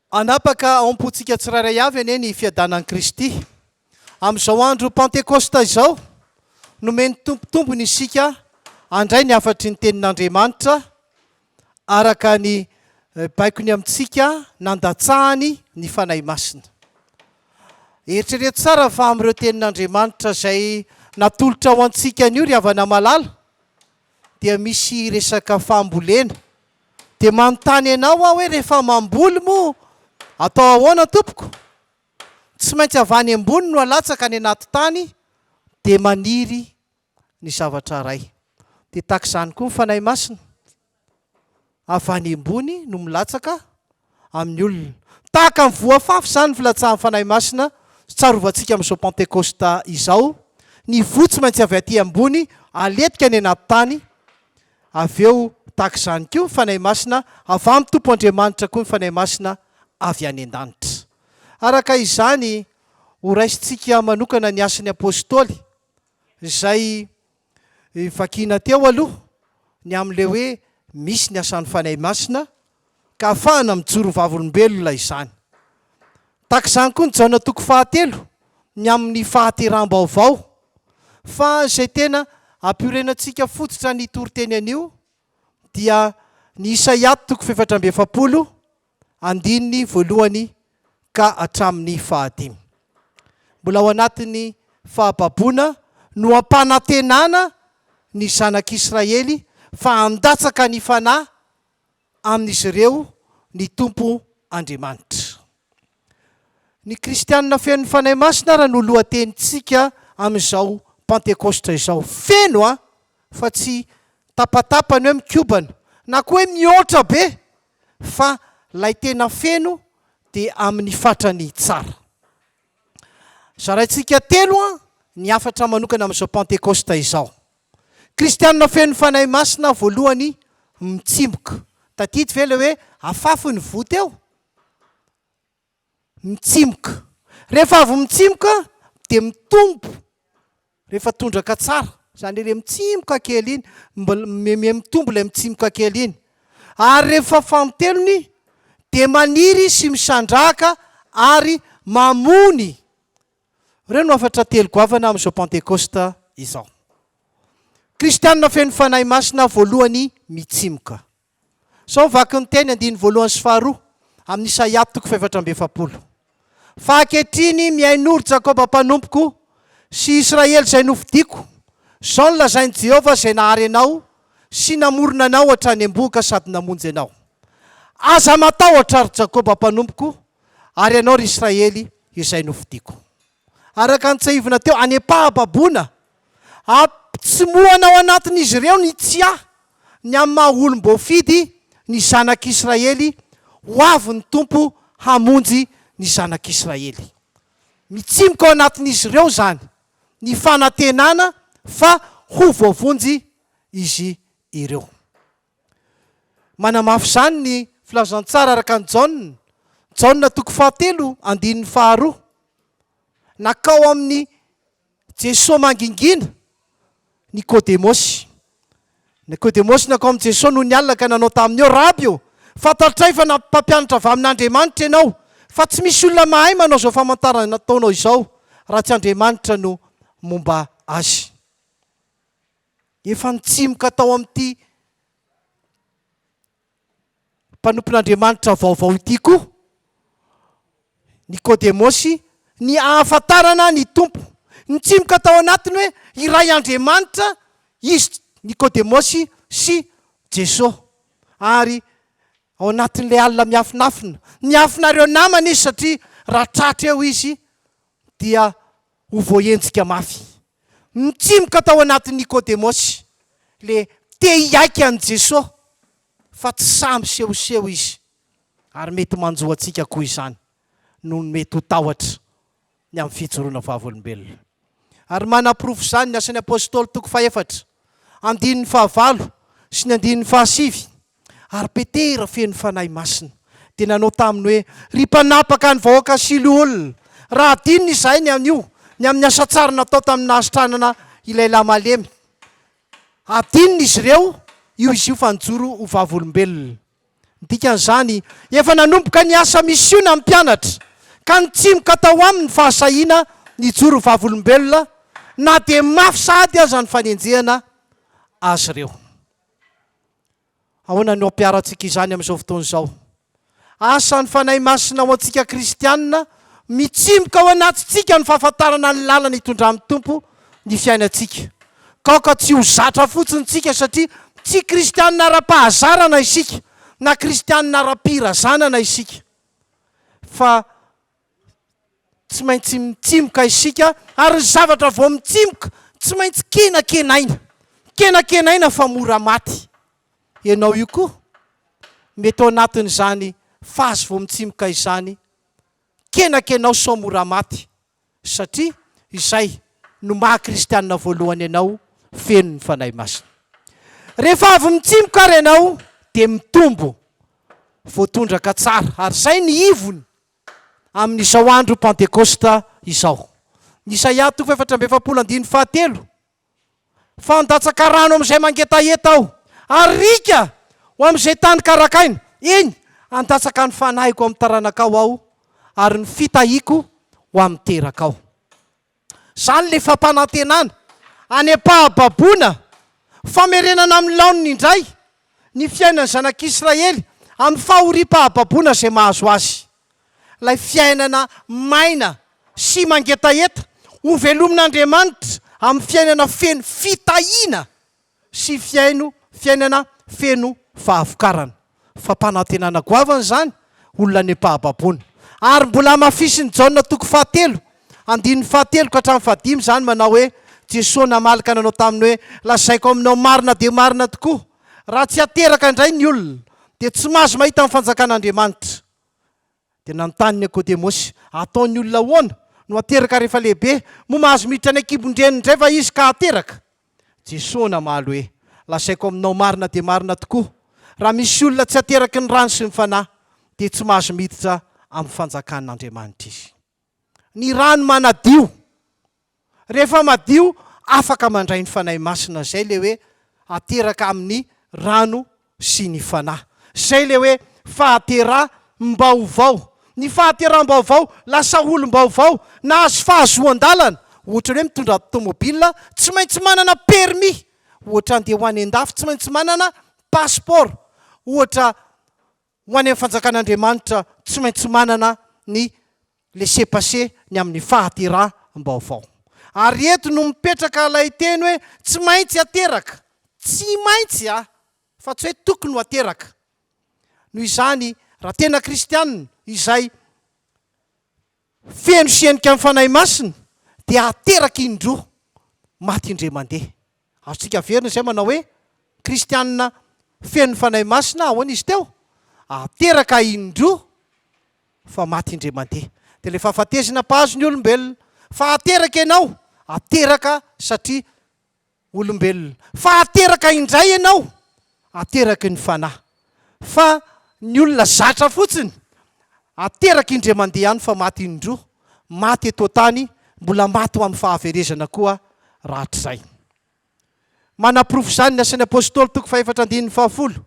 Hanapaka ao am-pontsika tsirairay avy anie ny fiadanan'i Kristy. Amin'izao andro Pantekosta izao, nomen'ny Tompo tombony isika handray ny hafatry ny Tenin'Andriamanitra araka ny baikony amintsika nandatsahany ny Fanahy Masina. Eritrereto tsara fa amin'ireo Tenin'Andriamanitra izay natolotra ho antsika anio ry havana malala, dia misy resaka fambolena dia manontany anao aho hoe rehefa mamboly moa atao ahoana tompoko? tsy maintsy avy any ambony no alatsaka any anaty tany dia maniry ny zavatra iray dia tahaka izany koa ny Fanahy Masina avy any ambony no milatsaka amin'ny olona. Tahaka ny voafafy izany ny filatsahan'ny Fanahy Masina tsarovantsika amin'izao Pantekosta izao, ny voa tsy maintsy avy aty ambony aletika any anaty tany, avy eo tahaka izany koa ny Fanahy Masina avy amin'ny Tompo Andriamanitra koa ny Fanahy Masina avy any an-danitra. Araka izany, horaisintsika manokana ny asan'ny Apôstôly izay Vakina teo aloha ny amin'ilay hoe misy ny asan'ny Fanahy Masina ka afahana mijoro vavolombelona izany. Tahaka izany koa ny Jaona toko fahatelo ny amin'ny fahateraham-baovao. Fa izay tena ampiorenantsika fototra an'io toriteny an'io dia ny Isaia toko fefatra amby efapolo andininy voalohany ka hatramin'ny fahadimy. Mbola ao anatin'ny fahababoana no ampanantenana ny zanak'Israely fa handatsaka ny fanahy amin'izy ireo ny Tompo Andriamanitra. Ny kristianina fenon'ny Fanahy Masina ara no lohatenintsika amin'izao Pantekositra izao. Feno an! Fa tsy tapatapany hoe mikobana na koa hoe mihoatra be fa lay tena feno de amin'ny fatrany tsara. Zaraintsika telo an ny hafatra manokana amin'izao Pentekosta izao. Kristianina feno Fanahy Masina voalohany mitsimoka. Tadidy ve lay hoe afafy ny voa teo? mitsimoka. Rehefa avy mitsimoka dia mitombo rehefa tondraka tsara, izany hoe ilay mitsimoka kely iny, mbola mihamia mitombo ilay mitsimoka kely iny. Ary rehefa fanintelony dia maniry izy sy misandrahaka ary mamony. Ireo no hafatra telo goavana amin'izao Pantekosta izao. Kristianina feno Fanahy Masina voalohany mitsimoka. Sao ho vaky ny teny andininy voalohany sy faharoa amin' Isaia toko fahefatra amby efapolo. Fa ankehitriny mihainoa, ry Jakoba mpanompoko, sy Israely izay nofidiko, izao no lazain' i Jehovah izay nahary anao sy namorona anao hatrany am-bohoka sady namonjy anao, Aza matahotra, ry Jakoba mpanompoko, ary ianao, ry Israely izay nofidiko. araka ny tsiahivina teo, any am-pahababoana, ampitsimohana ao anatin'izy ireo ny tsia ny amin'ny maha olom-boafidy ny zanak'Israely, ho avy ny Tompo hamonjy ny zanak'Israely. Mitsimoka ao anatin'izy ireo izany, ny fanantenana fa ho voavonjy izy ireo. Manamafy izany ny filazantsara araka an'i Jaona, Jaona toko fahatelo andininy faharoa, Nakao amin'i Jesoa mangingina Nikodemosy. Nikodemosy nakao amin'i Jesoa nony alina ka nanao taminy hoe, Raby ô, fantatray fa mpampianatra avy amin'Andriamanitra ianao, fa tsy misy olona mahay manao izao famantarana nataonao izao raha tsy Andriamanitra no momba azy. Efa nitsimoka tao amin'ity mpanompon'Andriamanitra vaovao ity koa Nikodemosy ny ahafantarana ny Tompo. Nitsimoka tao anatiny hoe iray Andriamanitra izy Nikodemosy sy Jesoa. Ary ao anatin'ilay alina miafinafina, niafina ireo namany izy satria raha tratra eo izy dia Ho voaenjika mafy. Nitsimoka tao anatin'i Nikodemosy le te hiaiky an'i Jeso fa tsy sahy misehoseho izy ary mety manjo antsika koa izany noho ny mety ho tahotra ny amin'ny fijoroana vavolombelona. Ary manaporofo izany ny Asan'ny Apostoly toko fahefatra, andininy fahavalo sy ny andininy fahasivy. Ary Petera feno Fanahy Masina dia nanao taminy hoe, Ry mpanapaka ny vahoaka sy loholona, raha hadinony izahay ny anio, ny amin'ny asa tsara natao tamin'ny nahasitranana ilay lahy malemy, hadinony izy ireo io izy io fa nijoro ho vavolombelona. Ny dikan'izany, efa nanomboka ny asa misiona ny mpianatra, ka nitsimoka tao aminy ny fahasahiana nijoro ho vavolombelona, na dia mafy sahady aza ny fanenjehana azy ireo. Ahoana no hampiharantsika izany amin'izao fotoana izao? Asan'ny Fanahy Masina ho antsika kristiana, mitsimoka ao anatintsika ny fahafantarana ny lalana hitondran'ny Tompo ny fiainantsika. Ka aoka tsy ho zatra fotsiny isika satria tsy kristiana ara-pahazarana isika na kristiana ara-pirazanana isika, fa Tsy maintsy mitsimoka isika ary ny zavatra vao mitsimoka tsy maintsy kenakenaina. Kenakenaina fa mora maty. Ianao io koa mety ao anatin'izany phase vao mitsimoka izany. Kenakenao sao mora maty satria izay no maha kristianina voalohany anao feno ny Fanahy Masina. Rehefa avy mitsimoka ary ianao dia mitombo voatondraka tsara ary izay ny ivony amin'izao andro Pantekosta izao. Isaia toko efatra amby efapolo andininy fahatelo, Fa handatsaka rano amin'izay mangetaheta aho, ary riaka ho amin'izay tany karakaina, eny, handatsaka ny fanahiko amin'ny taranakao aho, ary ny fitahiako ho amin'ny terakao. Izany ilay fampanantenana. Any am-pahababoana, famerenana amin'ny laoniny indray ny fiainan'ny zanak'Israely amin'ny fahoriam-pahababoana izay mahazo azy. Ilay fiainana maina sy mangetaheta hovelomin'Andriamanitra amin'ny fiainana feno fitahiana. sy fihaino fiainana feno fahavokarana. Fampanantenana goavana izany olona nempaham-baboana. Ary mbola hamafisin'i Jaona toko fahatelo, andininy fahatelo ka hatramin'ny fahadimy izany manao hoe, Jesoa namaly ka nanao taminy hoe, Lazaiko aminao marina dia marina tokoa, raha tsy ateraka indray ny olona, dia tsy mahazo mahita ny fanjakan'Andriamanitra. Dia nanontany Nikodemosy, Ataon'ny olona ahoana no hateraka rehefa lehibe? Moa mahazo miditra any an-kibon-dreniny indray va izy ka hateraka? Jesoa namaly hoe, Lazaiko aminao marina dia marina tokoa, raha misy olona tsy ateraky ny rano sy ny Fanahy, dia tsy mahazo miditra amin'ny fanjakan'Andriamanitra izy. ny rano manadio, rehefa madio afaka mandray ny Fanahy Masina, izay ilay hoe ateraka amin'ny rano sy ny Fanahy, izay ilay hoe fahateram-baovao, ny fahateram-baovao, lasa olom-baovao, nahazo fahazoan-dalana, ohatran'ny hoe mitondra tomobil tsy maintsy manana permis, ohatra andeha ho any an-dafy tsy maintsy manana passeport, ohatra. Ho any amin'ny fanjakan'Andriamanitra tsy maintsy manana ny laisser-passer ny amin'ny fahateram-baovao. Ary eto no mipetraka ilay teny hoe tsy maintsy ateraka, tsy maintsy a! fa tsy hoe tokony ho ateraka. Noho izany, raha tena kristiana izay, Feno senika ny Fanahy Masina dia hahateraka indroa maty indray mandeha. Azontsika averina izay manao hoe, Kristianina feno ny Fanahy Masina ahoana izy teo? Hahateraka indroa fa maty indray mandeha. Dia ilay fahafatesana mpahazo ny olombelona. Fa hahateraka ianao, hateraka satria olombelona fa hateraka indray ianao ateraky ny fanahy fa ny olona zatra fotsiny ateraky indray mandeha ihany fa maty indroa maty eto an-tany mbola maty ho amin'ny fahaverezana koa rahatrizay manaporofo izany ny asan'ny apostoly toko fahefatra andininy fahafolo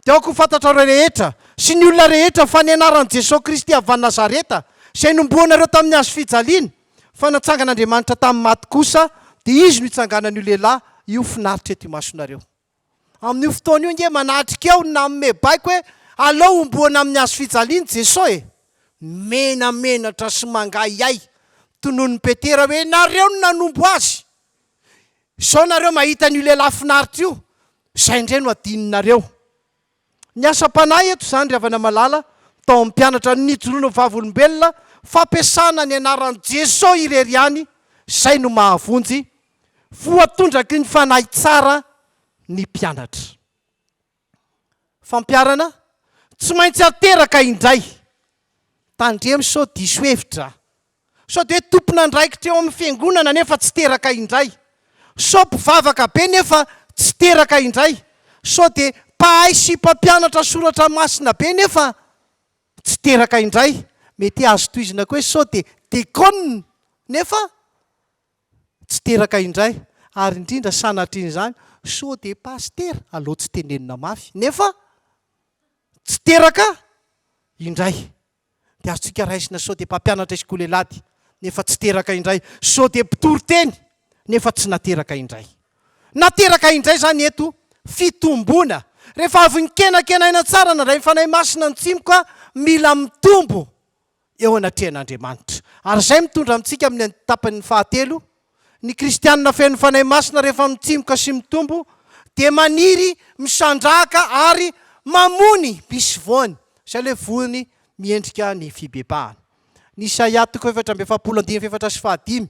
dia aoka ho fantatrareo rehetra sy ny olona rehetra fa ny anaran'i Jesoa Kristy avy any Nazareta izay nomboanareo tamin'ny hazo fijaliana Fa natsangan'Andriamanitra tamin'ny maty kosa, dia Izy no itsanganan'io lehilahy io finaritra eto imasonareo. Amin'io fotoana io ange manatrika aho ny nanome baiko hoe aleo homboana amin'ny hazo fijaliany Jeso e! Menamenatra sy mangahihay, tononon'i Petera hoe, Nareo no nanombo azy! Izao nareo mahita an'io lehilahy finaritra io, izay indray no adinonareo. Ny asam-panahy eto izany ry havana malala tao amin'ny mpianatra no nijoroana ho vavolombelona, fampiasana ny anaran'i Jesoa irery ihany izay no mahavonjy, voatondraky ny fanahy tsara ny mpianatra. Fampiharana, tsy maintsy ateraka indray. Tandremo sao diso hevitra. Sao dia tompon'andraikitra eo amin'ny fiangonana nefa tsy teraka indray. Sao mpivavaka be nefa tsy teraka indray. Sao dia mpahay sy mpampianatra soratra masina be nefa tsy teraka indray. Mety azo tohizina koa hoe sao dia dekona nefa tsy teraka indray. Ary indrindra sanatrin'izany, sao dia pasitera, aleo tsy tenenina mafy, nefa tsy teraka indray. dia azontsika raisina sao dia mpampianatra i Skolelady nefa tsy teraka indray, sao dia mpitory teny nefa tsy nateraka indray. Nateraka indray izany eto fitomboana. Rehefa avy nikenakenaina tsara nandray ny Fanahy Masina ny tsimoka, mila mitombo eo anatrehan'Andriamanitra. Ary izay mitondra amintsika amin'ny tapany fahatelo, Ny kristiana feno Fanahy Masina rehefa mitsimoka sy mitombo dia maniry misandrahaka ary mamony misy voany, izay ilay voany miendrika ny fibebahana. Ny Isaia toko fahefatra amby efapolo andininy fahefatra sy fahadimy,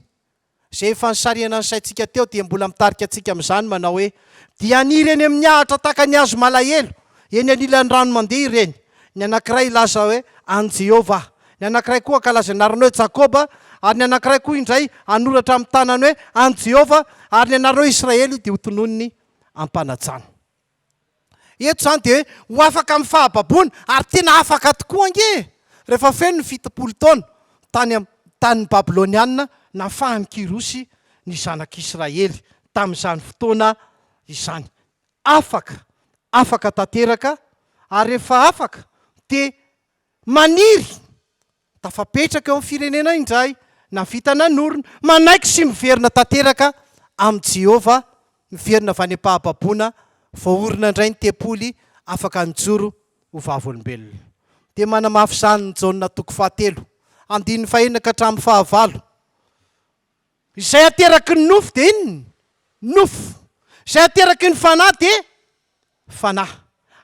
izay efa nisarihana ny saintsika teo dia mbola mitarika antsika amin'izany manao hoe, Dia haniry eny amin'ny ahitra tahaka ny hazo malahelo, eny anilan'ny rano mandeha ireny, Ny anankiray hilaza hoe, An'i Jehovah aho. Ny anankiray koa hankalaza ny anarany hoe, Jakoba, ary ny anankiray koa indray hanoratra amin'ny tanany hoe, An'i Jehovah, ary ny anareo Israely dia hotononiny am-panajana. Eto izany dia hoe ho afaka amin'ny fahababoana, ary tena afaka tokoa ange e! Rehefa feno ny fitopolo taona tany amin'ny tanin'ny Babylonianina, nafahan'i Kyrosy ny zanak'Israely tamin'izany fotoana izany. Afaka, afaka tanteraka, ary rehefa afaka dia maniry tafapetraka eo amin'ny firenena indray na vita na norina. Manaiky sy miverina tanteraka amin'i Jehovah, miverina avy any am-pahababoana, voaorina indray ny tempoly, afaka nijoro ho vavolombelona. Dia manamafy izany ny Jaona toko fahatelo, andininy fahenina ka hatramin'ny fahavalo. Izay ateraky ny nofo dia inona? Nofo. Izay ateraky ny fanahy dia fanahy.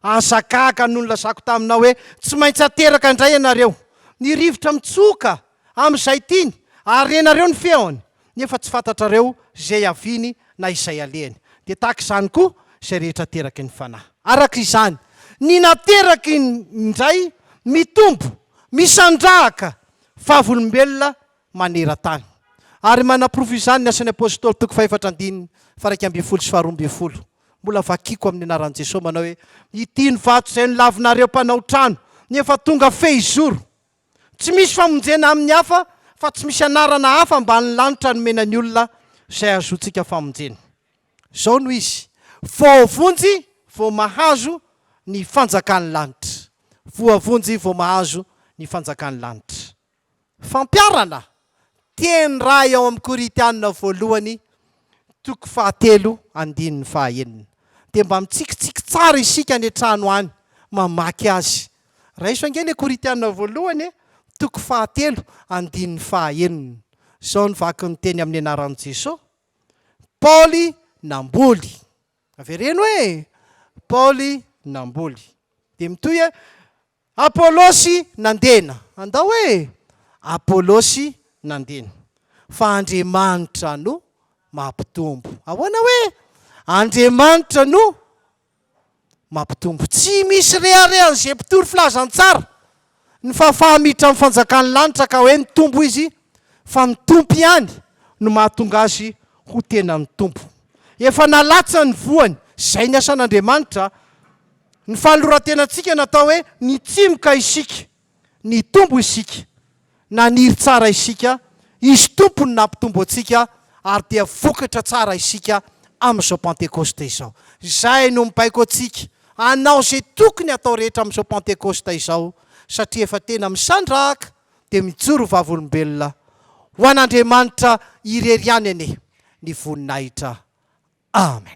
Aza gaga noho ny lazako taminao hoe tsy maintsy ateraka indray ianareo. Ny rivotra mitsoka amin'izay tiany ary renareo ny feony nefa tsy fantatrareo izay hiaviany na izay alehany. Dia tahaka izany koa izay rehetra ateraky ny fanahy. Araka izany, ny nateraky indray mitombo, misandrahaka vavolombelona maneran-tany. Ary manaporofo izany ny Asan'ny Apôstôly toko fahefatra andininy faha-iraika ambin'ny folo sy faha-roa ambin'ny folo. Mbola vakiko amin'ny anaran'i Jesosy manao hoe, Ity ny vato izay nolavinareo mpanao trano, nefa tonga fehizoro. Tsy misy famonjena amin'ny hafa fa tsy misy anarana hafa ambanin'ny lanitra nomena ny olona izay ahazoantsika famonjena. Izao no izy, Voavonjy vao mahazo ny fanjakan'ny lanitra. Voavonjy vao mahazo ny fanjakan'ny lanitra. Fampiharana teny iray ao amin'ny Korintiana voalohany toko fahatelo andininy fahaenina. Dia mba mitsikitsiky tsara isika any an-trano any mamaky azy. Raiso ange ilay Korintiana voalohany e, toko fahatelo andininy fahaenina. Izao no vaky ny teny amin'ny anaran'i Jesoa, Paoly namboly. Avereno e! Paoly namboly. Dia mitohy e! Apolosy nandena. Andao hoe Apolosy nandena. Fa Andriamanitra no mampitombo. Ahoana hoe Andriamanitra no mampitombo? Tsy misy reharehan'izay mpitory filazantsara ny fahafaha-miditra amin'ny fanjakan'ny lanitra ka hoe nitombo izy, fa ny Tompo ihany no mahatonga azy ho tena nitombo. Efa nalatsany ny voany. Izay ny asan'Andriamanitra. Ny fanoloran-tenantsika natao hoe nitsimoka isika, nitombo isika, naniry tsara isika, Izy Tompo no nampitombo antsika ary dia vokatra tsara isika amin'izao Pentekosta izao. Izay no mibaiko antsika hanao izay tokony hatao rehetra amin'izao Pentekosta izao satria efa tena misandrahaka dia mijoro ho vavolombelona ho an'Andriamanitra irery ihany anie ny voninahitra. Amen.